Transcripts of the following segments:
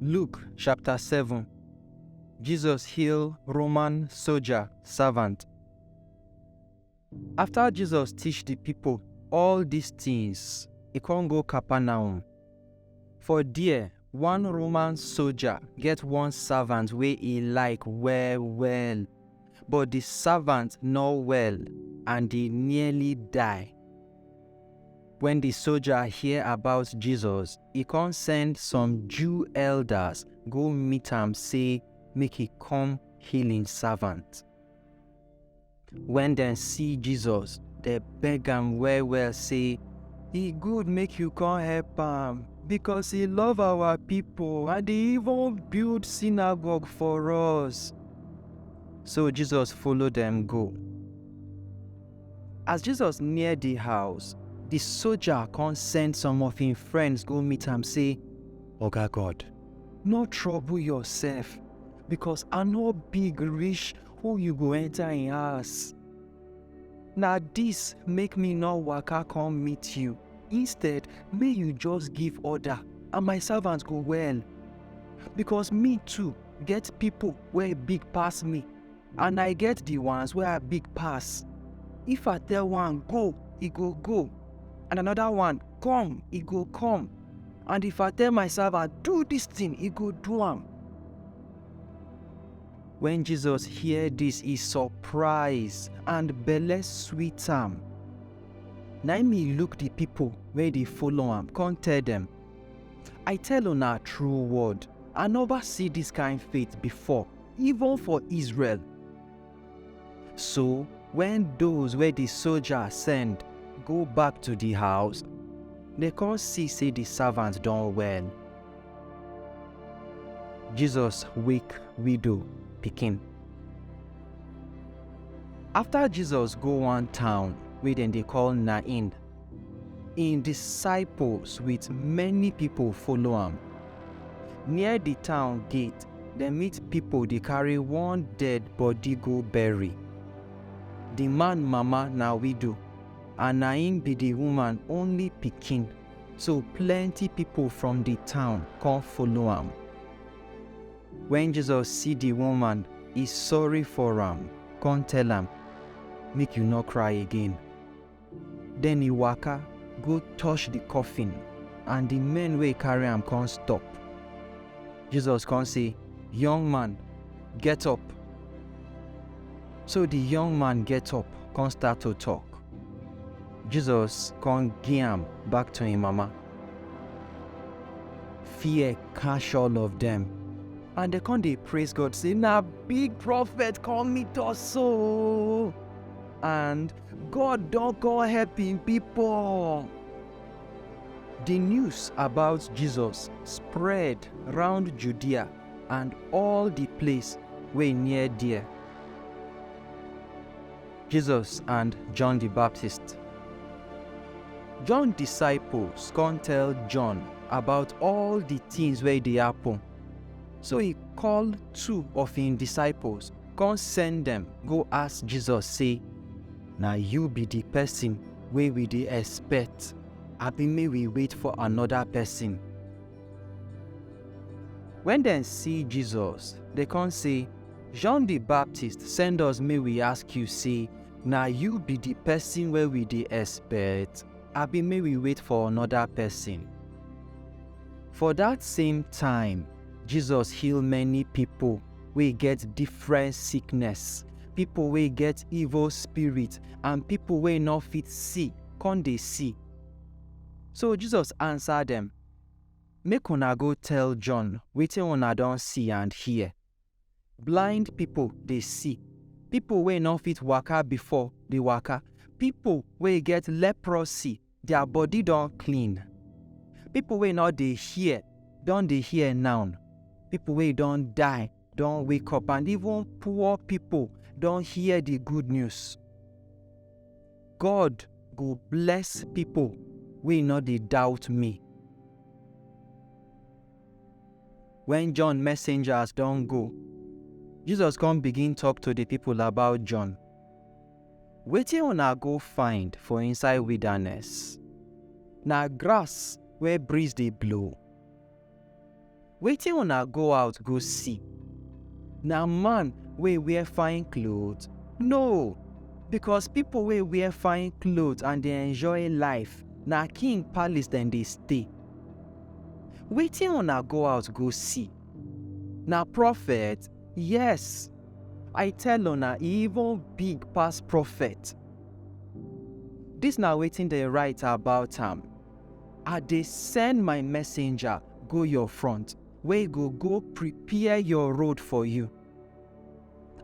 Luke chapter 7 Jesus heal Roman soldier servant. After Jesus teach the people all these things, he come go Capernaum. For there, one Roman soldier get one servant wey he like well well, but the servant no well and he nearly die. When the soldier hear about Jesus, he come send some Jew elders go meet am say make he come heal him servant. Wen dem see Jesus, dem beg am well-well sey, E good make you come help am, becos e love our pipo and e even build synagogue for us. So Jesus follow dem go. As Jesus near di house, di soja con send some of im friends go meet am sey, Oga God, no trouble yoursef, becos I no big reach who you go enter in house? Na this make me no waka come meet you. Instead, may you just give order and my servants go well. Because me too get people where big pass me and I get the ones where I big pass. If I tell one go, he go go. And another one come, he go come. And if I tell my servant do this thing, he go do am. Wen Jesus hear dis, e surprise and belle sweet am. Na im e look di pipo wey dey follow am, come tell dem, I tell una true word, I nova see dis kain faith before, even for Israel. So, wen those wey di soja send go back to di house, dem come see sey di servant don well. Jesus wake widow pikin. After Jesus go one town wey dem dey call Nain, im disciples with many people follow am. Near the town gate, dem meet people dey carry one dead body go bury. The man mama na widow and na im be the woman only pikin. So plenty pipo from di town kon follow am. Wen Jesus si di woman, e sorry for am, kon tell am, Make yu nor kry again. Den e waka go tosh di kofin and di men wey karry am kon stop. Jesus kon sey, Yong man, get up! So di yong man get up kon start to tok. Jesus kon gi am back to en mama. Fear catch all of dem. And dem kon dey praise God sey, Na big prophet kom meet us so! And God don kon help en pipol! Di news about Jesus spread round Judea and all di place wey near der. Jesus and John di Baptist. John disciples kon tell John about all di tins wey dey happen. So e call two of hin disciples kon send dem go ask Jesus sey, Na yu bi di pesin wey wi dey expect, abi make wi wait for anoda pesin? When dem see Jesus, they come say, John the Baptist send us may we ask you say, now you be the person where we the expect, abi may we wait for another person. For that same time, Jesus heal many people we get different sickness, people we get evil spirit, and people we not fit see, come they see. So Jesus answered them, Make una go tell John wetin una don see and hear. Blind pipo dey see, pipo wey no fit waka before dey waka, pipo wey get leprosy, dia body don clean, pipo wey no dey hear don dey hear now, pipo wey don die don wake up and even poor people don hear the good news. God go bless people wey no dey doubt me. When John messengers don go, Jesus come begin talk to the people about John. Wetin una go find for inside wilderness? Na grass wey breeze dey blow. Wetin una go out go see? Na man wey wear fine cloth? No! Bikos pipo wey wear fine cloth and dey enjoy life, na king palis dem dey stay. Wetin una go out go see? Na profet? Yes! I tell una, e even big pass profet. Dis na wetin dem write about am. I dey send my messenger go your front, wey go go prepare your road for you.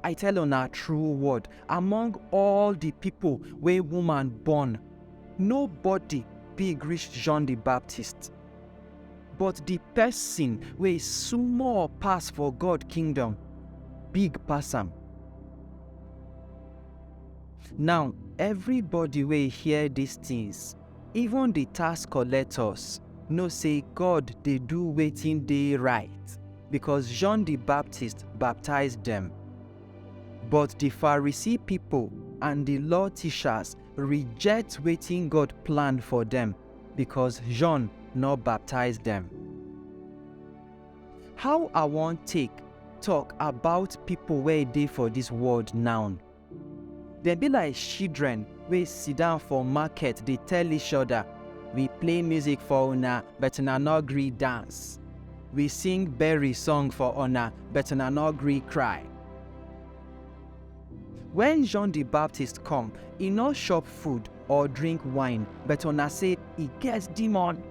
I tell una true word, among all the people wey woman born, nobody big reach John the Baptist. But the person wey small pass for God kingdom big pass am. Now everybody wey hear these things Even di tax collectors know sey God dey do wetin dey right, becos John di Baptist baptize dem. But di Pharisee pipo and di Law teachers reject wetin God plan for dem becos John nor baptize dem. How I wan take tok about pipo wey dey for dis world now? Dem be like shidren wey sidan for maket dey tell ishoda, We play muzik for una, but una nor gree dance. We sing berry song for una, but una nor gree kry. Wen Jon di Baptist kom, e nor shop food or drink wine, but una sey, E get dimon!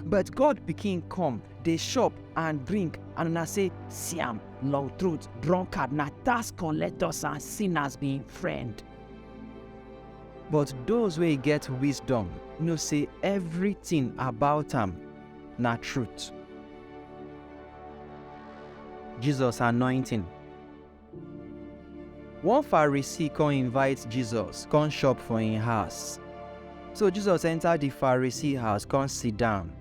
But God pikin come, dey chop and drink, and una say, See am, long throat, drunkard, na tax collectors and sinners be im friend. But those wey get wisdom know say everything about am na truth. Jesus anointing. One Pharisee come invite Jesus come chop for im house. So Jesus enter the Pharisee house come sit down.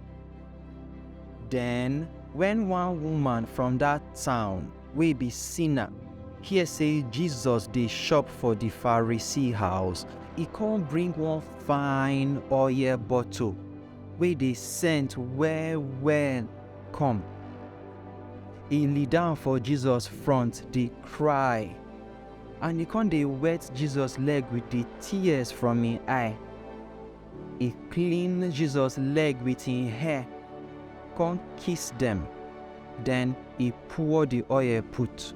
Then when one woman from that town wey be sinner hear say Jesus dey chop for the Pharisee house, e come bring one fine oil bottle wey dey scent well well come. E lie down for Jesus front dey cry and e come dey wet Jesus leg with the tears from im eye. E clean Jesus leg with im hair come kiss dem, then e pour the oil put.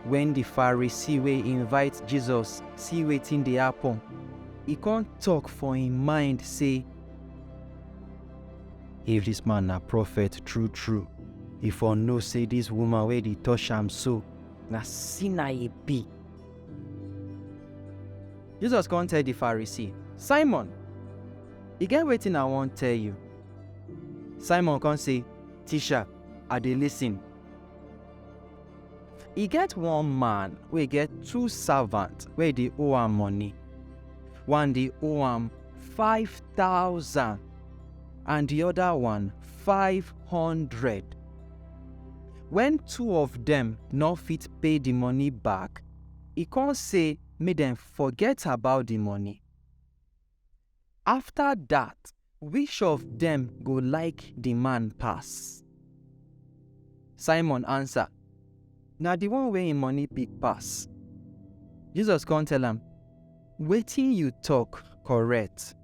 When the Pharisee wey invite Jesus see wetin dey happen, He come talk for him mind say, If this man na prophet true true, he for know say this woman wey dey touch am so na sinner e be. Jesus come tell the Pharisee, Simon, e get wetin I wan tell you. Simon come say, Teacher, I dey listen. E get one man wey get two servant wey dey owe am money. One dey owe am five thousand and the other one five hundred. When two of dem no fit pay the money back, e come say make dem forget about the money. After dat, which of dem go like di man pass? Simon ansa, Na di one wey im moni big pass. Jesus kon tell am, Wetin yu tok korrekt.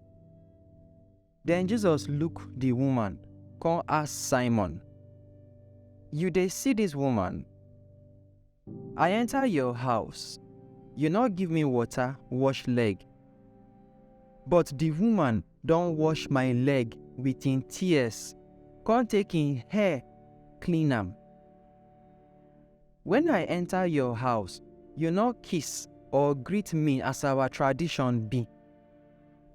Den Jesus luk di woman kon ask Simon, Yu dey si dis woman? I enter your house, you no give me water wash leg, but the woman don wash my leg with im tears, come take im hair clean am. When I enter your house, you no kiss or greet me as our tradition be.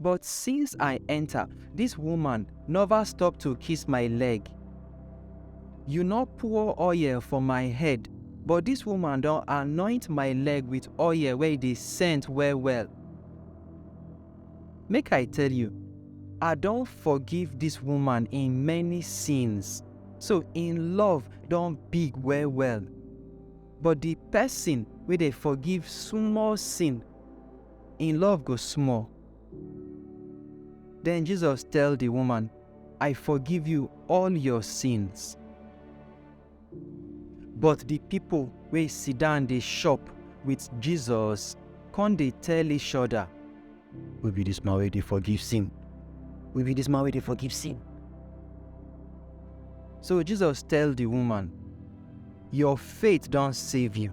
But since I enter, this woman never stop to kiss my leg. You no pour oil for my head, but this woman don anoint my leg with oil wey dey scent well well. Make I tell you, I don forgive this woman in many sins, so in love don big well well. But the person wey dey forgive small sin Im love go small. Den Jesus tell di woman, I forgive you all your sins. But di pipo wey sidan dey shop wit Jesus kon dey tell each oda, Who be dis man wey dey forgive sin? Who be dis man wey dey forgive sin? So Jesus tell di woman, Your faith don save you.